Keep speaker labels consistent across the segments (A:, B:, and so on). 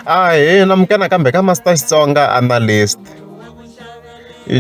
A: Ahee, namuka nakambe ka Master Xitsonga Analyst.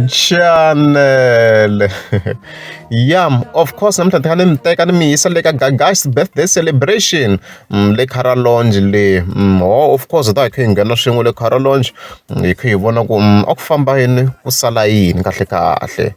A: Chanele. Yam, of course namuntlha ndzi kha ni mi teka ni mi yisa le ka Gaga's birthday celebration mm, le Cara Lounge le. Mm, oh, of course hi ta hi kha hi nghena swin'we le Cara Lounge mm, hi kha hi vona ku mm, a ku famba yini ku sala yini kahle kahle.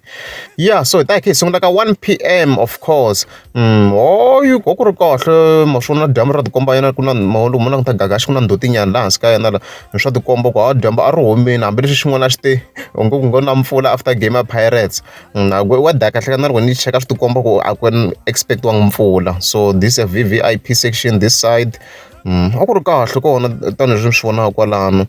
A: Yeah, so hi ta hi kha hi sungula ka 1 pm of course hayi a ku ri kahle ma swi vona dyambu ra ti komba yena ku na mahungu ma languta kahle ku na ndzhuti nyana laha hansi ka yena la hi swa tikomba ku hayi dyambu a ri humile hambileswi xin'wana a xi te u ngo ku ngo na mpfula after game ya pirates na ku wa dya kahle ka na loko ni cheka swi tikomba ku a ku expect-iwanga mpfula so this a V_V_I_P section this side a ku ri kahle kona tanihileswi ni swi vonaka kwalano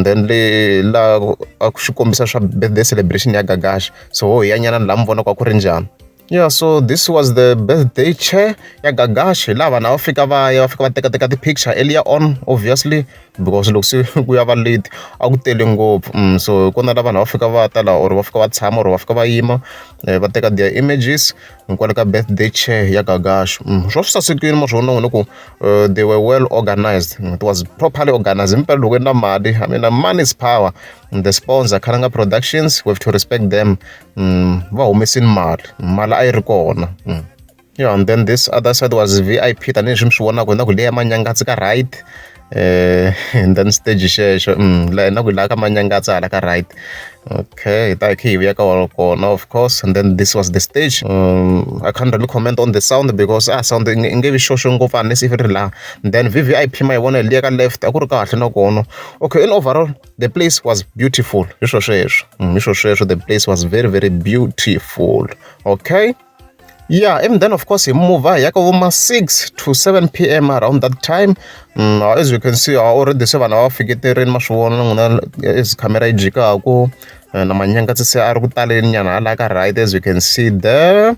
A: then le laha a ku xi kombisa swa birthday celebration ya Gagash so ho hi ya nyana laha mi vonaka ku ri njhani. Yeah so this was the birthday chair ya Gagashi laha vanhu a va fika va ya va fika va tekateka ti-picture earlier on obviously because loko se ku ya va late a ku tele ngopfu mm, so hi kona la vanhu a va fika va ta laha or va fika va tshama or va fika va yima eh, va teka their images hikwale ka birthday chair ya Gagashi mm, swa swi sasekile ma swi vona ku eh, they were well organized mm, it was properly organized himpela loko i na mali i mean money is power the sponsor Khalanga Productions we have to respect them mm, va humesini mali mali a yi ri kona mm. yeah, and then this other side was vip tanihileswi mi swi vonaka na ku leya manyangatsi ka right eh and then stage xexo mm la na ku la ka manyangatsi hala ka right okay hi ta khe hi vuya ka kona of course and then this was the stage um, i can't really comment on the sound because ah sound nge vi xoxo ngopfu unless if ri la then vvip ma yi vona liya ka left a ku ri kahle na kona okay in overall the place was beautiful hi swo sweswo mm, hi swo sweswo the place was very very beautiful okay yeah and then of course hi muva hi yaka voma 6 to 7 p m around that time mm, uh, as you can see uh, already se vanhu va fiketerini ma swi vona n'wina as camera yi jikaku uh, na manyanga se se a ri ku taleni nyana hala ka right as you can see there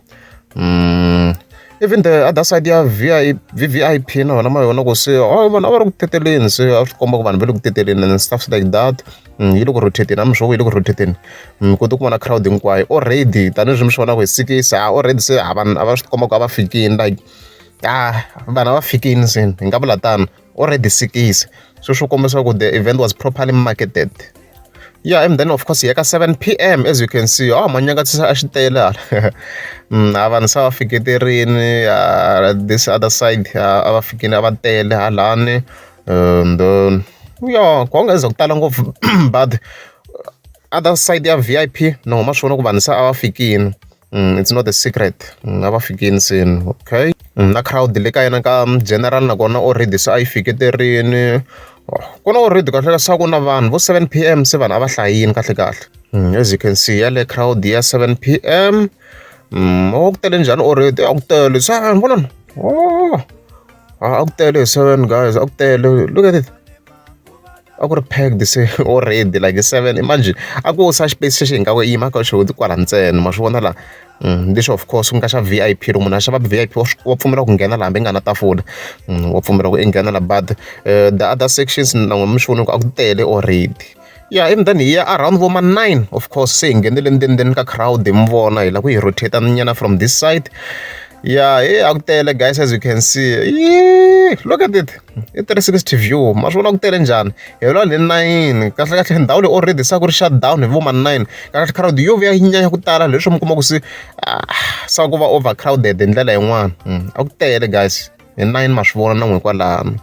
A: mm, even the other side ya vvip na vona ma yona ku se oh, vanhu a va ri ku teteleni se a swi komba ku vanhu va le ku teteleni and stuffs like that mm, yi le ku rotateni a mi swo yi le ku rotateni mm, ku ti ku vona crowd hinkwayo already tanihileswi mi swi vonaka hi sikisi a already se a vanhu a va swi komba ku a va fikini like a vanhu a va fikini se hi nga vula tano or a disikisi so swi kombisa ku the event was properly marketed yeah and then of course hi ya ka 7 p m as you can see oh manyakatsisa a xi tele hala mm, a vanhu se va fiketerini this other side a va fikini a va tele halani and um, yeah ku nga za ku tala ngopfu but other side ya vip no huma swi vona ku vanhu se a va fikini it's not a secret a va fikile se okay na crowd le ka yena ka general nakona already se a yi fiketerini ku na already kahle ka swa ku na vanhu vo seven p m se vanhu a va hlayini kahle kahle mm, as you can see ya le crowd ya seven p m mm, a ku tele njhani already a ku tele se vonani oh, a ku tele seven guys a ku tele look at it a ku ri packed se already like seven imagine a ko siya xipeyisi xexo hi nga i yima ka xona kwala ntsena ma swi vona la lexo of course ku nga xa V_I_P loko munhu a xava V_I_P wa swi wa pfumela ku nghena la hambi i nga na tafula wa pfumela ku i nghena la but the other sections na n'wina mi swi vona ku a ku tele already ya ivi then hi ya around vo ma nine of course se hi nghenele ndzeni ndzeni ka crowd hi mi vona hi lava ku hi rotator nyana from this side ya he a ku tele guys as you can see look at it. i three sixty view ma swi vona ku tele njhani hi vula le nine kahlekahle ndhawu leyi already se ku ri shut down hi vo ma nine kahle crowd yo vuya yi nyanya ku tala leswi mi kuma ku se ah, se ku va overcrowded hi ndlela yin'wana hmm, a ku tele guys hi nine ma swi vona na n'we kwalano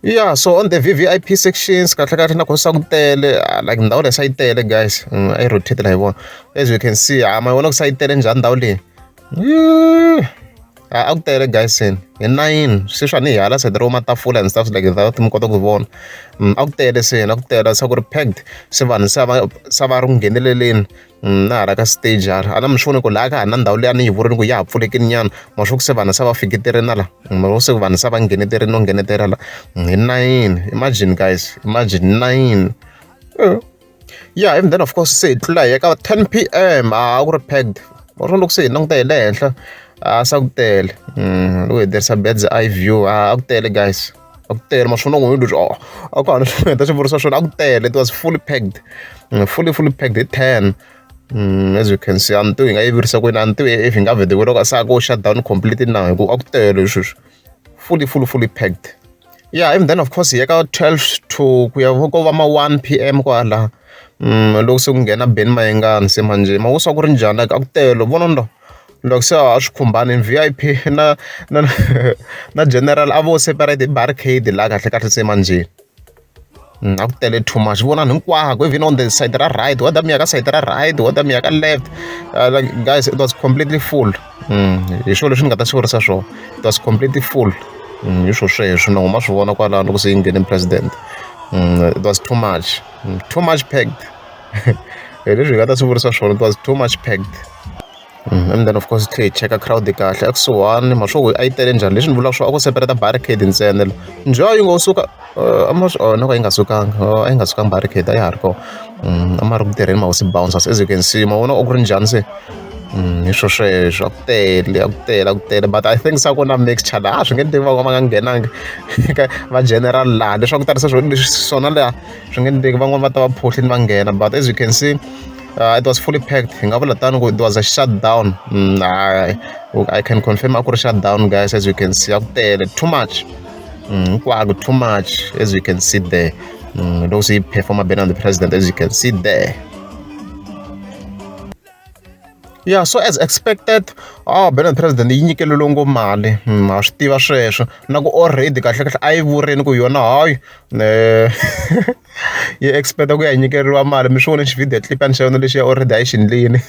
A: yeah so on the vvip sections kahle kahle na khosa ku tele ah, like ndhawu leyi sa yi tele guys mm, a yi rotate la hi vona as you can see a ah, ma vona ku sa yi tele njhani ndhawu leyi a ku tele Dyson hi nayini se swa ni hi hala side ro matafula and stuff like that mi kota ku vona mm, a ku tele se a ku tele se ku ri packed se vanhu se va se va ri ku ngheneleleni mm, na hala ka stage hala a na mi swi voni ku laha ka ha na ndhawu leyi a ni yi vurini ku ya ha pfulekini nyana ma swi ku se vanhu se va fiketerini la mm, ma se vanhu se va ngheneterini no nghenetela la hi nayini imagine guys imagine nayini eh. ya and then of course se hi tlula hi ya ka ten P_M a ku ri packed or swo loko se hi languta hi le henhla a se ku tele mm, loko hi tirhisa beds i view a ku tele guys a ku tele maswona n'wini leswi oh, a ku hana swi heta swi vurisa swona a ku tele it was fully packed mm, fully fully packed hi ten Mm, as you can see a ni tivi hi nga yi virisa kwini a ni tivi if hi nga vhete kweloko se a ko shut down completely na hi ku a ku tele sweswi fully fully fully packed yeah even then of course hi ya ka twelve to ku ya ko va ma one P_M kwala loko se ku nghena Ben Mayengani se manje ma ku swa ku ri njhani like a ku tele vona ndo loko se a swi khumbani V_I_P na na na general a vo separate barricade laha kahle kahle se manjheni. A ku tele too much vonani hinkwako even on the side ra right wa damiya ka side ra right wa damiya ka left uh, like guys it was completely full mm, hi swona leswi ni nga ta swi vurisa swona it was completely full mm, hi swo sweswo na huma swi vona kwalano loko se yi nghene president mm, it was too much too much packed hi leswi hi nga ta swi vurisa swona it was too much packed And then of course hi tlhela hi cheka crowd kahle a kusuhani mhaka swaku a yi tele njhani leswi ni vulaka swa a ko separate barricade ntsena la njhe yi ngo suka a ma swi onha ka yi nga sukanga a yi nga sukanga barricade a ya ha ri kona a ma ri ku tirheni mahosi bouncers as you can see ma vona a ku ri njhani se hi swo sweswo a ku tele a ku tele a ku tele but i think sa ku na mixture laha swi nge ni tivi va va nga nghenanga eka va general laha leswaku tarisa swo leswi swona laha swi nge ni tivi van'wani va ta va phohlini va nghena but as you can see uh, it was fully packed hi nga vula tano ku it was a shutdown mm, I, i can confirm a ku ri shutdown guys as you can see a ku tele too much mm, hinkwako mm, too much as you can see there mm, loko se yi performa bena the president as you can see there yeah so as expected oh bena president yi nyikelelo ngo mali mm, ha swi tiva sweswo na ku already kahlekahle a yi vurini ku yona hayi um yi expect ku ya nyikeriwa mali mi swi vone xi-video clip a ni xa yona lexi ya already a yi xi ndlini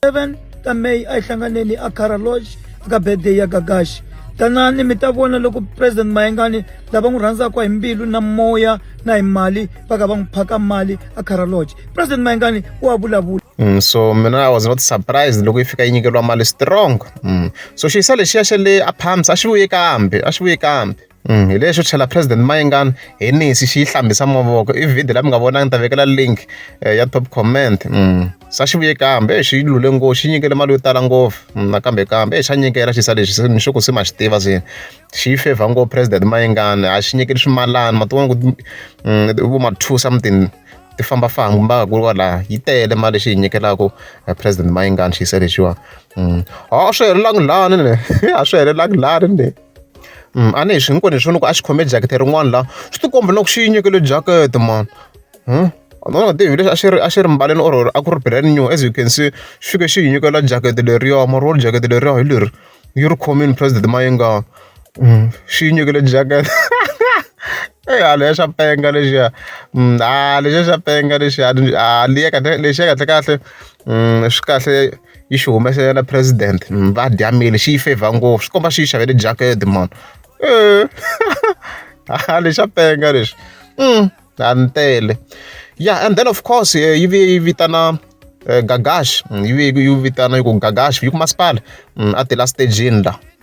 A: seven
B: ta may a yi hlanganeni eakara lodge eka birthday ya gagashi tanani mi ta vona loko president mayengani lava n'wi rhandzaka hi mbilu na moya na hi mali va ka va n'wi phaka mali a caraloge president mayengani wa vulavula Mm, so mina i
A: was not surprised loko yi fika yi nyikeriwa mali strong mm. so xiyisa lexiya xa le apams a xi vuye kambe a xi vuye kambe Hi lexo tlhela President Mayengani hi nisi xi yi hlambisa mavoko i video la mi nga vona ni ta vekela link eh, ya top comment mm. sa xi vuye kambe eh, xi lule ngopfu xi nyikele mali yo tala ngopfu mm, nakambe kambe eh, xa nyikela xi sa lexi ni xoko se ma xi tiva se xi yi favor ngopfu President Mayengani a xi nyikeli swimalani ma tivona ku mm, vo ma two something ti famba famba mba ku kwala yi tele mali xi yi nyikelaka eh, President Mayengani xi yi sa lexiwa a swi helelangi lani ne a swi helelangi lani ne a ni hi swi hinkwenu hi swi vona ku a xi khome jacket rin'wana laha swi ti komba na ku xi yi nyikele jacket mani a nga tivi leswi a xi ri a xi ri mbaleni or a ku ri brand new as you can see xi fike xi hi nyikela jacket leriya mara wo ri jacket leriya hi leri yi ri khomile president Mayenga xi yi nyikele jacket eyi hala ya xa penga lexiya a lexiya xa penga lexiya a liyeka lexiya kahlekahle swi kahle. yi xi humese yena president va dya mali xi yi favor ngopfu swi komba swi yi xavele jacket mani eh. ha lexa penga leswi mm hantele ya and then of course eh, yi vuye yi vitana eh, gagash mm, yi vuye yi vitana yi ku gagash yi ku masipala mm, a tela stagini la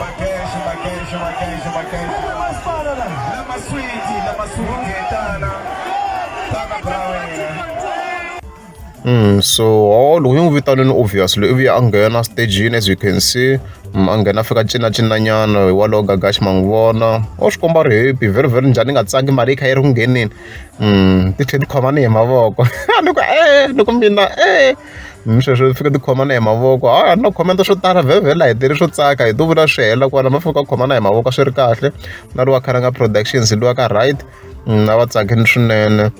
A: Makeshi, makeshi, makeshi, makeshi. Lama mas para la. Lama sweetie, lama sweetie, tana. Tana brawena. Mm, so oh, loko yo n'wi vitanini obviously ivi a nghena stagini as you can see mm, a nghena fika cinacinañana hi walowo gagaxi ma n'wi vona o swi komba ri happy very very njhani ni nga tsangi mali yi kha yi ri ku ngheneni mm, ti tlhe ti khomani hi mavoko ni ku e ni ku mina e mi sweswo fika ti khomana hi mavoko a no khomenta swo tala vhevhela hi tele swo tsaka hi to vula swi hela kona ma fika khomana hi mavoko swi ri kahle na ri wa kharanga productions liwa ka right na va tsakini swinene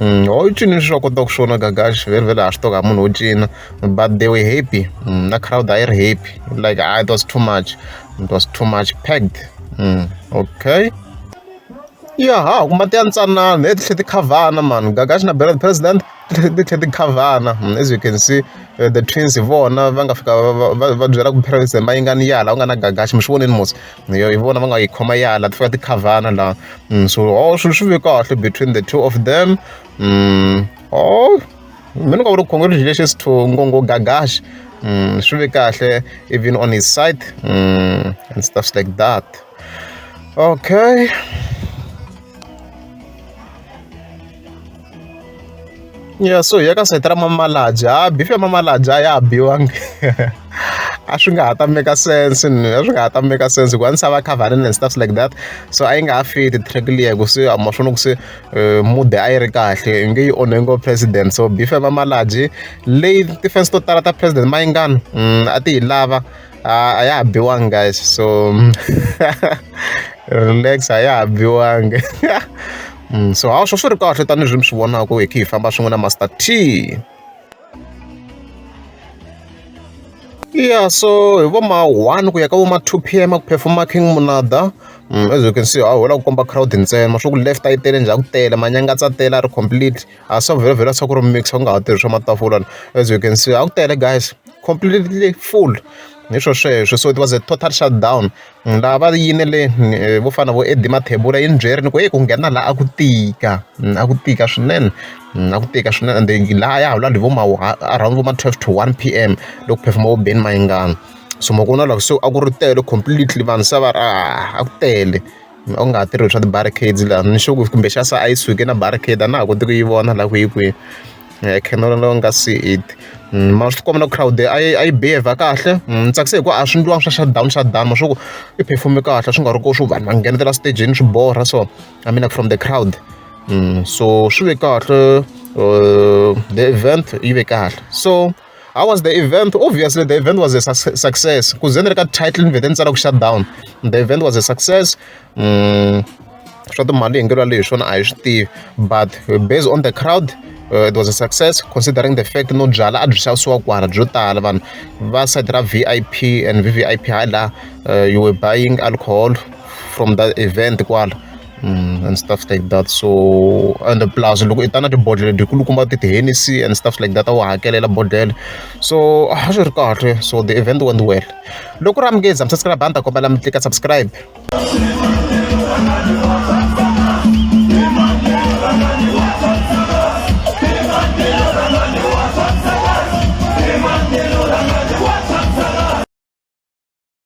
A: Mm, ho cini swi swa kota ku swona gagash very very ha swi toka munhu wo cina but they were happy mm, na crowd a yi ri happy like ah, it was too much it was too much packed mm, okay ya ha ku mati ya ntsanana hi titlhe ti khavana mani gagash na bela president ti tlhe ti khavhana as you can see the twins hi vona va nga fika va va va byela ku parents hi mayingani ya laha ku nga na gagaxi mi swi vonile mos hi vona va nga yi khoma ya laha ti fika ti khavhana laha so oh swilo swi ve kahle between the two of them oh mi ni nga vuri congratulations to ngongo gagaxi swi ve kahle even on his side and stuffs like that okay ya so hi ya ka sayiti ra mamalaja ha bifi ya mamalaja a ya ha biwangi a swi nga ha ta make sense a swi nga ha ta make sense hikuva ni sava covering and stuffs like that so a yi nga ha fiti track liya ku se a maswona ku se eh, mude a yi ri kahle i nge yi onhe ngo president so bifi ya mamalaji leyi tifense to tala ta president mayingani mm, a ti yi lava a ya ha biwangi guys so relax a ya ha biwangi mm, so hawa swo swi ri kahle tanihileswi mi swi vonaka hi khe hi famba swin'we na master t yeah so hi vo ma one ku ya ka vo ma two p m a ku performa king munada mm, as you can see a hola ku komba crowd ntsena swa ku left a yi tele njhani ku tele manyangatsa tele a ri complete a swa vhela vhela swa ku ri mixer u nga ha tirhisa matafula la as you can see a ku tele guys completely full hi swo sweswo so it was a total shut down laha va yinele vo fana vo Eddie Mathebula yi ni byeri ni ku eyi ku nghena laha a ku tika a ku tika swinene a ku tika swinene ende laha ya ha vula hi vo ma around vo ma twelve to one p.m. loko phefuma vo Benny Mayengani so makun'wana loko se a ku ri tele completely vanhu se va ri a ku tele. A wu nga ha tirhi swa ti-barricades laha ni sure ku kumbe xa se a yi suke na barricade a na ha koti ku yi vona laha ku yi kwihi camera leyi nga se it mara swi tikomba na crowd a yi a yi behave kahle ni tsakisa hi ku a swi endliwanga swa shut down shut down ma swa ku i perform-e kahle swi nga ri ku swi vanhu va nghenetela stejini swi borha so I mean like from the crowd so swi ve kahle the event yi ve kahle so. how was the event obviously the event was a success ku ze ni ri ka title ni vhete ni tsala ku shut down the event was a success mm, swa timali hi ngelo leyi swona a hi swi tivi but based on the crowd uh, it was a success considering the fact no byala a byi xavisiwa kwala byo tala vanhu va side ra v i p and v v i p hi laha uh, you were buying alcohol from that event kwala and stuff like that so and plus loko i ta na tibodhlele ti kulukumba ti ti-hennessy and stuff like that a wu hakelela bodhlele so a swi ri kahle so the event went well loko ri amukeza mi subscribe a ni ta kombela mi tlika subscribe